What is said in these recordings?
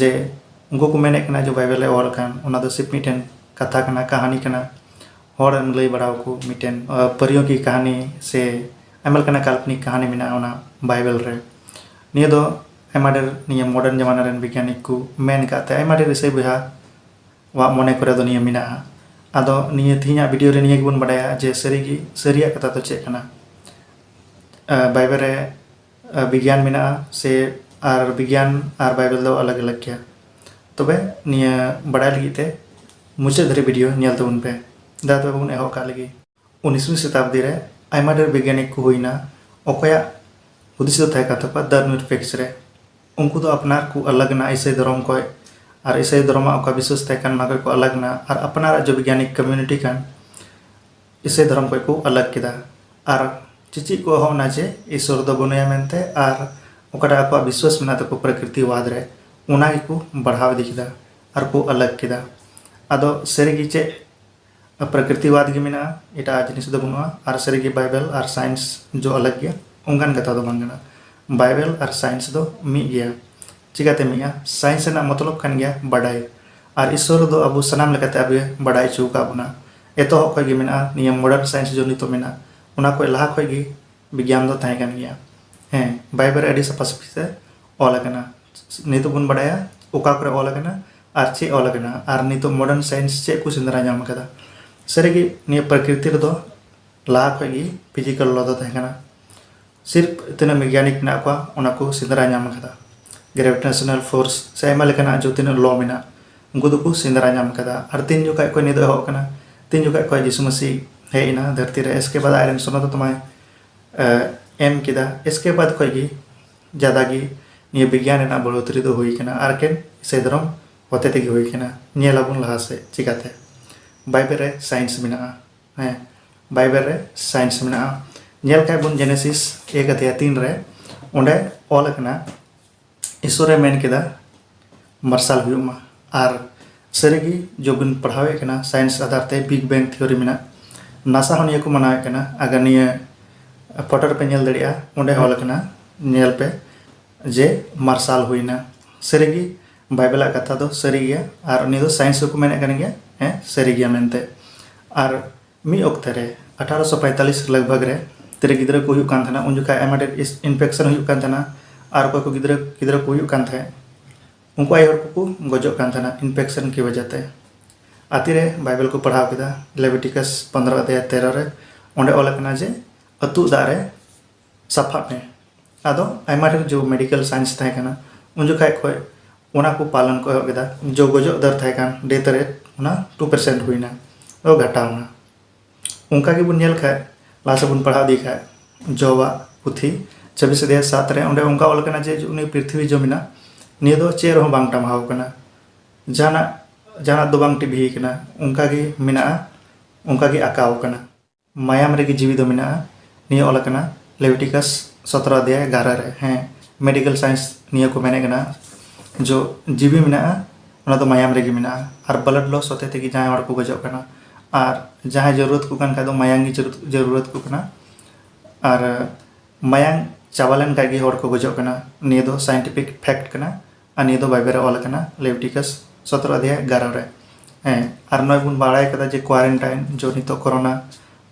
ᱡᱮ ᱩᱱᱠᱩ ᱠᱚ ᱢᱮᱱᱮᱫ ᱠᱟᱱᱟ ᱡᱮ ᱵᱟᱭᱵᱮᱞ ᱨᱮ ᱚᱞ ᱟᱠᱟᱱ ᱚᱱᱟ ᱫᱚ ᱥᱤᱯ ᱢᱤᱫᱴᱮᱱ ᱠᱟᱛᱷᱟ ᱠᱟᱱᱟ ᱠᱟᱹᱦᱱᱤ ᱠᱟᱱᱟ ᱦᱚᱲᱮᱢ ᱞᱟᱹᱭ ᱵᱟᱲᱟ ᱟᱠᱚ ᱢᱤᱫᱴᱮᱱ ᱯᱟᱹᱨᱭᱚᱠᱤ ᱠᱟᱹᱦᱱᱤ ᱥᱮ ᱟᱭᱢᱟ ᱞᱮᱠᱟᱱᱟᱜ ᱠᱟᱞᱯᱚᱱᱤᱠ ᱠᱟᱹᱦᱱᱤ ᱢᱮᱱᱟᱜᱼᱟ ᱚᱱᱟ ᱵᱟᱭᱵᱮᱞ ᱨᱮ ᱱᱤᱭᱟᱹ ᱫᱚ ᱟᱭᱢᱟ ᱰᱷᱮᱨ ᱱᱤᱭᱟᱹ ᱢᱚᱰᱟᱨᱱ ᱡᱟᱢᱟᱱᱟ ᱨᱮᱱ ᱵᱤᱜᱽᱜᱟᱱᱤᱠ ᱠᱚ ᱢᱮᱱ ᱟᱠᱟᱫ ᱛᱮ ᱟᱭᱢᱟ ᱰᱷᱮᱨ ᱤᱥᱟᱹᱭ ᱵᱚᱭᱦᱟ ᱣᱟᱜ ᱢᱚᱱᱮ ᱠᱚᱨᱮ ᱫᱚ ᱱᱤᱭᱟᱹ ᱢᱮᱱᱟᱜᱼᱟ ᱟᱫᱚ ᱱᱤᱭᱟᱹ ᱛᱮᱦᱮᱧᱟᱜ ᱵᱷᱤᱰᱤᱭᱳ ᱨᱮ ᱱᱤᱭᱟᱹ ᱜᱮᱵᱚᱱ ᱵᱟᱰᱟᱭᱟ ᱡᱮ ᱥᱟᱹᱨᱤᱜᱮ ᱥᱟᱹᱨᱤᱭᱟᱜ ᱠᱟᱛᱷᱟ ᱫᱚ ᱪᱮᱫ ᱠᱟᱱᱟ ᱵᱟᱭᱵᱮᱞ ᱨᱮ ᱵᱤᱜᱽᱭᱟᱱ ᱢᱮᱱᱟᱜᱼᱟ ᱥᱮ ᱟᱨ ᱵᱤᱜᱽᱭᱟᱱ ᱟᱨ ᱵᱟᱭᱵᱮᱞ ᱫᱚ ᱟᱞᱟᱜᱽ ᱟᱞᱟᱜᱽ ᱜᱮᱭᱟ ᱛᱚᱵᱮ ᱱᱤᱭᱟᱹ ᱵᱟᱲᱟᱭ ᱞᱟᱹᱜᱤᱫ ᱛᱮ ᱢᱩᱪᱟᱹᱫ ᱫᱷᱟᱹᱨᱤᱡ ᱵᱷᱤᱰᱤᱭᱳ ᱧᱮᱞ ᱛᱟᱵᱚᱱ ᱯᱮ ᱫᱟ ᱛᱚᱵᱮ ᱵᱚᱱ ᱮᱦᱚᱵ ᱠᱟᱜ ᱞᱟᱹᱜᱤᱫ ᱩᱱᱤᱥᱢᱤ ᱥᱚᱛᱟᱵᱫᱤ ᱨᱮ ᱟᱭᱢᱟ ᱰᱷᱮᱨ ᱵᱤᱜᱽᱭᱟᱱᱤᱠ ᱠᱚ ᱦᱩᱭᱱᱟ ᱚᱠᱚᱭᱟᱜ ᱦᱩᱫᱤᱥ ᱫᱚ ᱛᱟᱦᱮᱸ ᱠᱟᱱ ᱛᱟᱠᱚᱣᱟ ᱫᱟ ᱱᱤᱨᱯᱮᱠᱥ ᱨᱮ ᱩᱱᱠᱩ ᱫᱚ ᱟᱯᱱᱟᱨ ᱠᱚ ᱟᱞᱟᱜᱽ ᱮᱱᱟ ᱤᱥᱟᱹᱭ ᱫᱷᱚᱨᱚᱢ ᱠᱷᱚᱡ ᱟᱨ ᱤᱥᱟᱹᱭ ᱫᱷᱚᱨᱚᱢᱟᱜ ᱚᱠᱟ ᱵᱤᱥᱥᱟᱹᱥ ᱛᱟᱦᱮᱸ ᱠᱟᱱ ᱚᱱᱟ ᱠᱷᱚᱡ ᱠᱚ ᱟᱞᱟᱜᱽ ᱮᱱᱟ ᱟᱨ ᱟᱯᱱᱟᱨᱟᱜ ᱡᱮ ᱵᱤᱜᱽᱭᱟᱱᱤᱠ ᱠᱚᱢᱤᱭᱩᱱᱤᱴᱤ ᱠᱟᱱ ᱤᱥᱟᱹᱭ ᱫᱷᱚᱨᱚᱢ ᱠᱷᱚᱱ ᱠᱚ ᱟᱞᱟᱜᱽ ᱠᱮᱫᱟ ᱟᱨ ᱪᱮᱪᱮᱫ ᱠᱚ ᱮᱦᱚᱵ ᱮᱱᱟ ᱡᱮ ᱤᱥᱥᱚᱨ ᱫᱚ ᱵᱟᱹᱱᱩᱭᱟ ᱢᱮᱱᱛᱮ ᱟᱨ ᱚᱠᱟᱴᱟᱜ ᱟᱠᱚᱣᱟᱜ ᱵᱤᱥᱥᱟᱹᱥ ᱢᱮᱱᱟᱜ ᱛᱟᱠᱚ ᱯᱨᱟᱠᱨᱤᱛᱤ ᱵᱟᱫᱽ ᱨᱮ ᱚᱱᱟ ᱜᱮᱠᱚ ᱵᱟᱲᱦᱟᱣ ᱤᱫᱤ ᱠᱮᱫᱟ ᱟᱨ ᱠᱚ ᱟᱞᱟᱜᱽ ᱠᱮᱫᱟ ᱟᱫᱚ ᱥᱟᱹᱨᱤ ᱜᱮ ᱪᱮᱫ ᱯᱨᱟᱠᱨᱤᱛᱤ ᱵᱟᱫᱽ ᱜᱮ ᱢᱮᱱᱟᱜᱼᱟ ᱮᱴᱟᱜ ᱡᱤᱱᱤᱥ ᱫᱚ ᱵᱟᱹᱱᱩᱜᱼᱟ ᱟᱨ ᱥᱟᱹᱨᱤ ᱜᱮ ᱵᱟᱭᱵᱮᱞ ᱟᱨ ᱥᱟᱭᱮᱱᱥ ᱡᱚ ᱟᱞᱟᱜᱽ ᱜᱮᱭᱟ ᱚᱱᱠᱟᱱ ᱠᱟᱛᱷᱟ ᱫᱚ ᱵᱟᱝ ᱠᱟᱱᱟ ᱵᱟᱭᱵᱮᱞ ᱟᱨ ᱥᱟᱭᱮᱱᱥ ᱫᱚ ᱢᱤᱫ ᱜᱮᱭᱟ ᱪᱤᱠᱟᱹᱛᱮ ᱢᱤᱫᱼᱟ? ᱥᱟᱭᱮᱱᱥ ᱨᱮᱱᱟᱜ ᱢᱚᱛᱞᱚᱵᱽ ᱠᱟᱱ ᱜᱮᱭᱟ ᱵᱟᱰᱟᱭ᱾ ᱟᱨ ᱤᱥᱣᱚᱨ ᱫᱚ ᱟᱵᱚ ᱥᱟᱱᱟᱢ ᱞᱮᱠᱟᱛᱮ ᱟᱵᱚᱭ ᱵᱟᱰᱟᱭ ᱚᱪᱚ ᱟᱠᱟᱫ ᱵᱚᱱᱟ᱾ ᱮᱛᱚᱦᱚᱵ ᱠᱷᱚᱱ ᱜᱮ ᱢᱮᱱᱟᱜᱼᱟ ᱱᱤᱭᱟᱹ ᱢᱚᱰᱟᱨᱱ ᱥᱟᱭᱮᱱᱥ ᱡᱚ ᱱᱤᱛᱚᱜ ᱢᱮᱱᱟᱜ ᱚᱱᱟ ᱠᱷᱚᱱ ᱞᱟᱦᱟ ᱠᱷᱚᱱ ᱜᱮ ᱵᱤᱜᱽᱭᱟᱱ ᱫᱚ ᱛᱟᱦᱮᱸ ᱠᱟᱱ ᱜᱮᱭᱟ᱾ ᱦᱮᱸ ᱵᱟᱭᱵᱮᱞ ᱨᱮ ᱟᱹᱰᱤ ᱥᱟᱯᱷᱟ ᱥᱟᱹᱯᱷᱤ ᱛᱮ ᱚᱞ ᱟᱠᱟᱱᱟ᱾ ᱱᱤᱛᱚᱜ ᱵᱚᱱ ᱵᱟᱰᱟᱭᱟ ᱚᱠᱟ ᱠᱚᱨᱮ ᱚᱞ ᱟᱠᱟᱱᱟ ᱟᱨ ᱪᱮᱫ ᱚᱞ ᱟᱠᱟᱱᱟ ᱟᱨ ᱱᱤᱛᱚᱜ ᱢᱚᱰᱟᱨᱱ ᱥᱟᱭᱮᱱᱥ ᱪᱮᱫ ᱠᱚ ᱥᱮᱸᱫᱽᱨᱟ ᱧᱟᱢ ᱟᱠᱟᱫᱟ᱾ ᱥᱟᱹᱨᱤ ᱜᱮ ᱱᱤᱭᱟᱹ ᱯᱨᱚᱠᱨᱤᱛᱤ ᱨᱮᱫᱚ ᱞᱟᱦᱟ ᱠᱷᱚᱱ ᱜᱮ ᱯᱷᱤᱡᱤᱠᱟᱞ ᱞᱚ ᱫᱚ ᱛᱟᱦᱮᱸ ᱠᱟᱱᱟ᱾ ᱥᱤᱨᱯ ᱛᱤᱱᱟᱹᱜ ᱢᱮᱜᱟᱱᱤᱠ ᱢᱮᱱᱟᱜ ᱠᱚᱣᱟ ᱚᱱᱟ ᱠᱚ ᱥᱮᱸᱫᱽᱨᱟ ᱧᱟᱢ ᱟᱠᱟᱫᱟ ᱜᱨᱮᱵᱷᱤᱴᱮᱥᱚᱱᱟᱞ ᱯᱷᱳᱨᱥ ᱥᱮ ᱟᱭᱢᱟ ᱞᱮᱠᱟᱱᱟᱜ ᱡᱚ ᱛᱤᱱᱟᱹᱜ ᱞᱚ ᱢᱮᱱᱟᱜ ᱩᱱᱠᱩ ᱫᱚᱠᱚ ᱥᱮᱸᱫᱽᱨᱟ ᱧᱟᱢ ᱟᱠᱟᱫᱟ ᱟᱨ ᱛᱤᱱ ᱡᱚᱠᱷᱟᱡ ᱠᱷᱚᱡ ᱱᱤᱭᱟᱹ ᱫᱚ ᱮᱦᱚᱵ ᱟᱠᱟᱱᱟ ᱛᱤᱱ ᱡᱚᱠᱷᱟᱡ ᱠᱷᱚᱡ ᱡᱤᱥᱩ ᱢᱟᱹᱥᱤ ᱦᱮᱡ ᱮᱱᱟ ᱫᱷᱟᱹᱨᱛᱤ ᱨᱮ ᱮᱥᱠᱮ ᱵᱟᱫ ᱟᱡᱨᱮᱱ ᱥᱚᱱᱚᱛ ᱟᱛᱢᱟᱭ ᱮᱢ ᱠᱮᱫᱟ ᱮᱥᱠᱮ ᱵᱟᱫ ᱠᱷᱚᱡ ᱜᱮ ᱡᱟᱫᱟ ᱜᱮ ᱱᱤᱭᱟᱹ ᱵᱤᱜᱽᱭᱟᱱ ᱨᱮᱱᱟᱜ ᱵᱟᱹᱲᱦᱚᱛᱨᱤ ᱫᱚ ᱦᱩᱭ ᱟᱠᱟᱱᱟ ᱟᱨ ᱠᱮᱱ ᱤᱥᱟᱹᱭ ᱫᱷᱚᱨᱚᱢ ᱦᱚᱛᱮ ᱛᱮᱜᱮ ᱦᱩᱭ ᱟᱠᱟᱱᱟ ᱧᱮᱞ ᱟᱵᱚᱱ ᱞᱟᱦᱟ ᱥᱮᱫ ᱪᱤᱠᱟᱛᱮ ᱵᱟᱭᱵᱮᱞ ᱨᱮ ᱥᱟᱭᱮᱱᱥ ᱢᱮᱱᱟᱜᱼᱟ ᱦᱮᱸ ᱵᱟᱭᱵᱮᱞ ᱨᱮ ᱥᱟᱭᱮᱱᱥ ᱢᱮᱱᱟᱜᱼᱟ ᱧᱮᱞ ᱠᱷᱟᱡ ᱵᱚᱱ ᱡᱮᱱᱮᱥᱤᱥ ᱮᱠ ᱟᱫᱷᱮᱭᱟ ᱛᱤᱱ ᱨᱮ ᱚᱸᱰᱮ ᱚᱞ ᱟᱠᱟᱱᱟ ᱤᱥᱚᱨᱮ ᱢᱮᱱ ᱠᱮᱫᱟ ᱢᱟᱨᱥᱟᱞ ᱦᱩᱭᱩᱜ ᱢᱟ ᱟᱨ ᱥᱟᱹᱨᱤᱜᱮ ᱡᱚᱵᱤᱱ ᱯᱟᱲᱦᱟᱣᱮᱫ ᱠᱟᱱᱟ ᱥᱟᱭᱮᱱᱥ ᱟᱫᱷᱟᱨ ᱛᱮ ᱵᱤᱜ ᱵᱮᱝ ᱛᱷᱤᱭᱳᱨᱤ ᱢᱮᱱᱟᱜ ᱱᱟᱥᱟ ᱦᱚᱸ ᱱᱤᱭᱟᱹ ᱠᱚ ᱢᱟᱱᱟᱣᱮᱫ ᱠᱟᱱᱟ ᱟᱜᱟᱨ ᱱᱤᱭᱟᱹ ᱯᱷᱳᱴᱳ ᱨᱮᱯᱮ ᱧᱮᱞ ᱫᱟᱲᱮᱭᱟᱜᱼᱟ ᱚᱸᱰᱮ ᱚᱞ ᱟᱠᱟᱱᱟ ᱧᱮᱞ ᱯᱮ ᱡᱮ ᱢᱟᱨᱥᱟᱞ ᱦᱩᱭᱱᱟ ᱥᱟᱹᱨᱤᱜᱮ ᱵᱟᱭᱵᱮᱞ ᱟᱜ ᱠᱟᱛᱷᱟ ᱫᱚ ᱥᱟᱹᱨᱤ ᱜᱮᱭᱟ ᱟᱨ ᱩᱱᱤ ᱫᱚ ᱥᱟᱭᱮᱱᱥ ᱦᱚᱸᱠᱚ ᱢᱮᱱᱮᱫ ᱠᱟᱱ ᱜᱮᱭᱟ ᱦᱮᱸ ᱥᱟᱹᱨᱤ ᱜᱮᱭᱟ ᱢᱮᱱᱛᱮ ᱟᱨ ᱢᱤᱫ ᱚᱠᱛᱮ ᱨᱮ ᱟᱴᱷᱟᱨᱚ ᱥᱚ ᱯᱟᱭᱛᱟᱞᱤᱥ ᱞᱟᱜᱽᱵᱷᱟᱜᱽ ᱨᱮ ᱛᱤᱨᱮ ᱜᱤᱫᱽᱨᱟᱹ ᱠᱚ ᱦᱩᱭᱩᱜ ᱠᱟᱱ ᱛᱟᱦᱮᱱᱟ ᱩᱱ ᱡᱚᱠᱷᱟᱡ ᱟᱭᱢᱟ ᱰᱷᱮᱨ ᱤᱱᱯᱷᱮᱠᱥᱚᱱ ᱦᱩᱭᱩᱜ ᱠᱟᱱ ᱛᱟᱦᱮᱱᱟ ᱟᱨ ᱚᱠᱚᱭ ᱠᱚ ᱜᱤᱫᱽᱨᱟᱹ ᱜᱤᱫᱽᱨᱟᱹ ᱠᱚ ᱦᱩᱭᱩᱜ ᱠᱟᱱ ᱛᱟᱦᱮᱸᱫ ᱩᱱᱠᱩ ᱟᱭᱳ ᱦᱚᱲ ᱠᱚᱠᱚ ᱜᱚᱡᱚᱜ ᱠᱟᱱ ᱛᱟᱦᱮᱱᱟ ᱤᱱᱯᱷᱮᱠᱥᱚᱱ ᱠᱤ ᱵᱟᱡᱟᱣ ᱛᱮ ᱟᱛᱤ ᱨᱮ ᱵᱟᱭᱵᱮᱞ ᱠᱚ ᱯᱟᱲᱦᱟᱣ ᱠᱮᱫᱟ ᱞᱮᱵᱤᱴᱤᱠᱟᱥ ᱯᱚᱱᱫᱨᱚ ᱟᱫᱷᱭᱟᱭ ᱛᱮᱨᱚ ᱨᱮ ᱚᱸᱰᱮ ᱚᱞ ᱟᱠᱟᱱᱟ ᱡᱮ ᱟᱹᱛᱩᱜ ᱫᱟᱜ ᱨᱮ ᱥᱟᱯᱷᱟᱜ ᱢᱮ ᱟᱫᱚ ᱟᱭᱢᱟ ᱰᱷᱮᱨ ᱡᱚ ᱢᱮᱰᱤᱠᱮᱞ ᱥᱟᱭᱮᱱᱥ ᱛᱟᱦᱮᱸ ᱠᱟᱱᱟ ᱩᱱ ᱡᱚᱠᱷᱟᱡ ᱠᱷᱚᱡ ᱚᱱᱟ ᱠᱚ ᱯᱟᱞᱚᱱ ᱠᱚ ᱮᱦᱚᱵ ᱠᱮᱫᱟ ᱡᱚ ᱜᱚᱡᱚᱜ ᱫᱚᱨ ᱛᱟᱦᱮᱸ ᱠᱟᱱ ᱰᱮᱛᱷ ᱨᱮᱴ ᱚᱱᱟ ᱴᱩ ᱯᱟᱨᱥᱮᱱᱴ ᱦᱩᱭᱱᱟ ᱫᱚ ᱜᱷᱟᱴᱟᱣ ᱮᱱᱟ ᱚᱱᱠᱟ ᱜᱮᱵᱚᱱ ᱧᱮᱞ ᱠᱷᱟᱡ ᱞᱟᱦᱟ ᱥᱮᱫ ᱵᱚᱱ ᱯᱟᱲᱦᱟᱣ ᱤᱫᱤ ᱠᱷᱟᱡ ᱡᱚᱣᱟᱜ ᱯᱩᱛᱷᱤ ᱪᱷᱟᱵᱤᱥ ᱟᱫᱷᱮᱭ ᱥᱟᱛ ᱨᱮ ᱚᱸᱰᱮ ᱚᱱᱠᱟ ᱚᱞ ᱠᱟᱱᱟ ᱡᱮ ᱩᱱᱤ ᱯᱨᱤᱛᱷᱤᱵᱤ ᱡᱚ ᱢᱮᱱᱟᱜ ᱱᱤᱭᱟᱹ ᱫᱚ ᱪᱮᱫ ᱨᱮᱦᱚᱸ ᱵᱟᱝ ᱴᱟᱢᱟᱣ ᱠᱟᱱᱟ ᱡᱟᱦᱟᱱᱟᱜ ᱡᱟᱦᱟᱱᱟᱜ ᱫᱚ ᱵᱟᱝ ᱴᱤᱵᱷᱤ ᱠᱟᱱᱟ ᱚᱱᱠᱟ ᱜᱮ ᱢᱮᱱᱟᱜᱼᱟ ᱚᱱᱠᱟ ᱜᱮ ᱟᱸᱠᱟᱣ ᱠᱟᱱᱟ ᱢᱟᱭᱟᱢ ᱨᱮᱜᱮ ᱡᱤᱣᱤ ᱫᱚ ᱢᱮᱱᱟᱜᱼᱟ ᱱᱤᱭᱟᱹ ᱚᱞ ᱟᱠᱟᱱᱟ ᱞᱮᱣᱴᱤᱠᱟᱥ ᱥᱚᱛᱨᱚ ᱟᱫᱷᱭᱟᱭ ᱮᱜᱟᱨᱚ ᱨᱮ ᱦᱮᱸ ᱢᱮᱰᱤᱠᱮᱞ ᱥᱟᱭᱮᱱᱥ ᱱᱤᱭᱟᱹ ᱠᱚ ᱢᱮᱱᱮᱫ ᱠᱟᱱᱟ ᱡᱚ ᱡᱤᱣᱤ ᱢᱮᱱᱟᱜᱼᱟ ᱚᱱᱟ ᱫᱚ ᱢᱟᱭᱟᱢ ᱨᱮᱜᱮ ᱢᱮᱱᱟᱜᱼᱟ ᱟᱨ ᱵᱞᱟᱰ ᱞᱚᱥ ᱦᱚᱛᱮ ᱛᱮᱜᱮ ᱡᱟᱦᱟᱸᱭ ᱦᱚᱲ ᱠᱚ ᱜᱚᱡᱚᱜ ᱠᱟᱱᱟ ᱟᱨ ᱡᱟᱦᱟᱸᱭ ᱡᱟᱹᱨᱩᱲᱟᱛ ᱠᱚ ᱠᱟᱱ ᱠᱷᱟᱡ ᱫᱚ ᱢᱟᱭᱟᱢ ᱜᱮ ᱡᱟᱹᱨᱩᱲᱟᱛ ᱠᱚ ᱠᱟᱱᱟ ᱟᱨ ᱢᱟᱭᱟᱢ ᱪᱟᱵᱟ ᱞᱮᱱ ᱠᱷᱟᱡ ᱜᱮ ᱦᱚᱲ ᱠᱚ ᱜᱚᱡᱚᱜ ᱠᱟᱱᱟ ᱱᱤᱭᱟᱹ ᱫᱚ ᱥᱟᱭᱮᱱᱴᱤᱯᱷᱤᱠ ᱯᱷᱮᱠᱴ ᱠᱟᱱᱟ ᱟᱨ ᱱᱤᱭᱟᱹ ᱫᱚ ᱵᱟᱭᱵᱮᱞ ᱨᱮ ᱚᱞ ᱟᱠᱟᱱᱟ ᱞᱮᱣᱴᱤᱠᱟᱥ ᱥᱚᱛᱨᱚ ᱟᱫᱷᱭᱟᱭ ᱮᱜᱟᱨᱚ ᱨᱮ ᱦᱮᱸ ᱟᱨ ᱱᱚᱜᱼᱚᱭ ᱵᱚᱱ ᱵᱟᱲᱟᱭ ᱠᱟᱫᱟ ᱡᱮ ᱠᱣᱟᱨᱮᱱᱴᱟᱭᱤᱱ ᱡᱚ ᱱᱤᱛᱚᱜ ᱠᱚᱨᱳᱱᱟ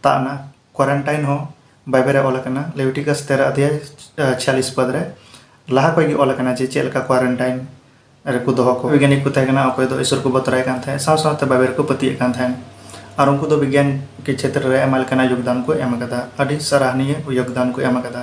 ᱛᱟᱵ ᱮᱱᱟ ᱠᱣᱟᱨᱮᱱᱴᱟᱭᱤᱱ ᱦᱚᱸ ᱵᱟᱭᱵᱮᱞ ᱨᱮ ᱚᱞ ᱟᱠᱟᱱᱟ ᱞᱮᱣᱴᱤᱠᱟᱥ ᱛᱮᱨᱚ ᱟᱫᱷᱭᱟᱭ ᱪᱷᱤᱭᱟᱞᱤᱥ ᱯᱚᱫ ᱨᱮ ᱞᱟᱦᱟ ᱠᱷᱚᱱ ᱜᱮ ᱚᱞ ᱟᱠᱟᱱᱟ ᱡᱮ ᱪᱮᱫ ᱞᱮᱠᱟ ᱠᱣᱟᱨᱮᱱᱴᱟᱭᱤᱱ ᱨᱮᱠᱚ ᱫᱚᱦᱚ ᱠᱚ ᱵᱤᱜᱽᱭᱟᱱᱤᱠ ᱠᱚ ᱛᱟᱦᱮᱸ ᱠᱟᱱᱟ ᱚᱠᱚᱭ ᱫᱚ ᱤᱥᱚᱨ ᱠᱚ ᱵᱚᱛᱚᱨᱟᱭ ᱠᱟᱱ ᱛᱟᱦᱮᱸᱫ ᱥᱟᱶ ᱥᱟᱶᱛᱮ ᱵᱟᱭᱵᱮᱞ ᱨᱮᱠᱚ ᱯᱟᱹᱛᱭᱟᱹᱜ ᱠᱟᱱ ᱛᱟᱦᱮᱸᱫ ᱟᱨ ᱩᱱᱠᱩ ᱫᱚ ᱵᱤᱜᱽᱭᱟᱱ ᱠᱮ ᱪᱷᱮᱛᱨᱚ ᱨᱮ ᱟᱭᱢᱟ ᱞᱮᱠᱟᱱᱟᱜ ᱭᱳᱜᱽᱫᱟᱱ ᱠᱚ ᱮᱢ ᱟᱠᱟᱫᱟ ᱟᱹᱰᱤ ᱥᱟᱨᱟᱦᱱᱤᱭᱟᱹ ᱭᱳᱜᱽᱫᱟᱱ ᱠᱚ ᱮᱢ ᱟᱠᱟᱫᱟ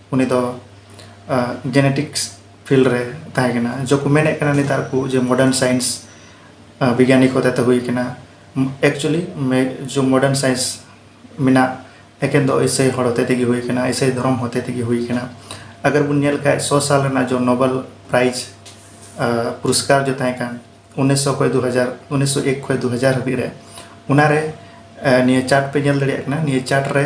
ᱩᱱᱤ ᱫᱚ ᱡᱮᱱᱮᱴᱤᱠᱥ ᱯᱷᱤᱞᱰ ᱨᱮ ᱛᱟᱦᱮᱸ ᱠᱟᱱᱟ ᱡᱚᱠᱚ ᱢᱮᱱᱮᱫ ᱠᱟᱱᱟ ᱱᱮᱛᱟᱨ ᱠᱚ ᱡᱮ ᱢᱚᱰᱟᱨᱱ ᱥᱟᱭᱮᱱᱥ ᱵᱤᱜᱽᱭᱟᱱᱤ ᱠᱚ ᱦᱚᱛᱮᱛᱮ ᱦᱩᱭ ᱠᱟᱱᱟ ᱮᱠᱪᱩᱭᱮᱞᱤ ᱡᱚ ᱢᱚᱰᱟᱨᱱ ᱥᱟᱭᱮᱱᱥ ᱢᱮᱱᱟᱜ ᱮᱠᱮᱱ ᱫᱚ ᱤᱥᱟᱹᱭ ᱦᱚᱲ ᱦᱚᱛᱮ ᱛᱮᱜᱮ ᱦᱩᱭ ᱠᱟᱱᱟ ᱤᱥᱟᱹᱭ ᱫᱷᱚᱨᱚᱢ ᱦᱚᱛᱮ ᱛᱮᱜᱮ ᱦᱩᱭ ᱠᱟᱱᱟ ᱟᱜᱟᱨ ᱵᱚᱱ ᱧᱮᱞ ᱠᱷᱟᱡ ᱥᱚ ᱥᱟᱞ ᱨᱮᱱᱟᱜ ᱡᱚ ᱱᱚᱵᱮᱞ ᱯᱨᱟᱭᱤᱡᱽ ᱯᱩᱨᱚᱥᱠᱟᱨ ᱡᱚ ᱛᱟᱦᱮᱸ ᱠᱟᱱ ᱩᱱᱤᱥᱥᱚ ᱠᱷᱚᱡ ᱫᱩ ᱦᱟᱡᱟᱨ ᱩᱱᱤᱥᱥᱚ ᱮᱠ ᱠᱷᱚᱡ ᱫᱩ ᱦᱟᱡᱟᱨ ᱦᱟᱹᱵᱤᱡ ᱨᱮ ᱚᱱᱟᱨᱮ ᱱᱤᱭᱟᱹ ᱪᱟᱨᱴ ᱯᱮ ᱧᱮᱞ ᱫᱟᱲᱮᱭᱟᱜ ᱠᱟᱱᱟ ᱱᱤᱭᱟᱹ ᱪᱟᱨᱴ ᱨᱮ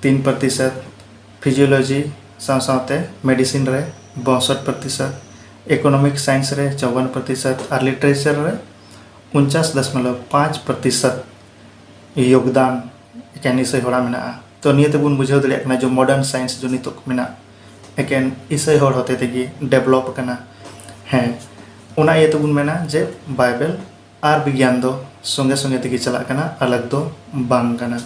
ᱛᱤᱱ ᱯᱨᱚᱛᱤᱥᱚᱛ ᱯᱷᱤᱡᱤᱭᱳᱞᱚᱡᱤ ᱥᱟᱶ ᱥᱟᱶᱛᱮ ᱢᱮᱰᱤᱥᱤᱱ ᱨᱮ ᱵᱟᱹᱥᱚᱴ ᱯᱨᱚᱛᱤᱥᱚᱛ, ᱤᱠᱳᱱᱚᱢᱤᱠ ᱥᱟᱭᱮᱱᱥ ᱨᱮ ᱪᱚᱣᱚᱱ ᱯᱨᱚᱛᱤᱥᱚᱛ ᱟᱨ ᱞᱤᱴᱟᱨᱮᱪᱟᱨ ᱨᱮ ᱩᱱᱪᱟᱥ ᱫᱚᱥᱢᱚᱞᱚᱵᱽ ᱯᱟᱸᱪ ᱯᱨᱚᱛᱤᱥᱚᱛ ᱭᱳᱜᱽᱫᱟᱱ ᱮᱠᱮᱱ ᱤᱥᱟᱹᱭ ᱦᱚᱲᱟᱜ ᱢᱮᱱᱟᱜᱼᱟ ᱛᱚ ᱱᱤᱭᱟᱹ ᱛᱮᱵᱚᱱ ᱵᱩᱡᱷᱟᱹᱣ ᱫᱟᱲᱮᱭᱟᱜ ᱠᱟᱱᱟ ᱡᱮ ᱢᱚᱰᱟᱨᱱ ᱥᱟᱭᱮᱱᱥ ᱡᱮ ᱱᱤᱛᱚᱜ ᱢᱮᱱᱟᱜ ᱮᱠᱮᱱ ᱤᱥᱟᱹᱭ ᱦᱚᱲ ᱦᱚᱛᱮ ᱛᱮᱜᱮ ᱰᱮᱵᱷᱞᱚᱯ ᱟᱠᱟᱱᱟ ᱦᱮᱸ ᱚᱱᱟ ᱤᱭᱟᱹ ᱛᱮᱵᱚᱱ ᱢᱮᱱᱟ ᱡᱮ ᱵᱟᱭᱵᱮᱞ ᱟᱨ ᱵᱤᱜᱽᱭᱟᱱ ᱫᱚ ᱥᱚᱸᱜᱮ ᱥᱚᱸᱜᱮ ᱛᱮᱜᱮ ᱪᱟᱞᱟᱜ ᱠᱟᱱᱟ ᱟᱞᱟᱜᱽ ᱫᱚ ᱵᱟᱝ ᱠᱟᱱᱟ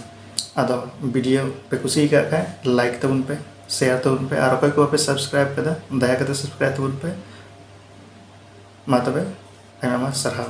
ᱟᱫᱚ ᱵᱷᱤᱰᱤᱭᱳ ᱯᱮ ᱠᱩᱥᱤ ᱟᱠᱟᱫ ᱠᱷᱟᱡ ᱞᱟᱭᱤᱠ ᱛᱟᱵᱚᱱ ᱯᱮ ᱥᱮᱭᱟᱨ ᱛᱟᱵᱚᱱ ᱯᱮ ᱟᱨ ᱚᱠᱚᱭ ᱠᱚ ᱵᱟᱯᱮ ᱥᱟᱵᱥᱠᱨᱟᱭᱤᱵ ᱠᱟᱫᱟ ᱫᱟᱭᱟ ᱠᱟᱛᱮ ᱥᱟᱵᱥᱠᱨᱟᱭᱤᱵ ᱛᱟᱵᱚᱱ ᱯᱮ ᱢᱟ ᱛᱚᱵᱮ ᱟᱭᱢᱟ ᱥᱟᱨᱦᱟᱣ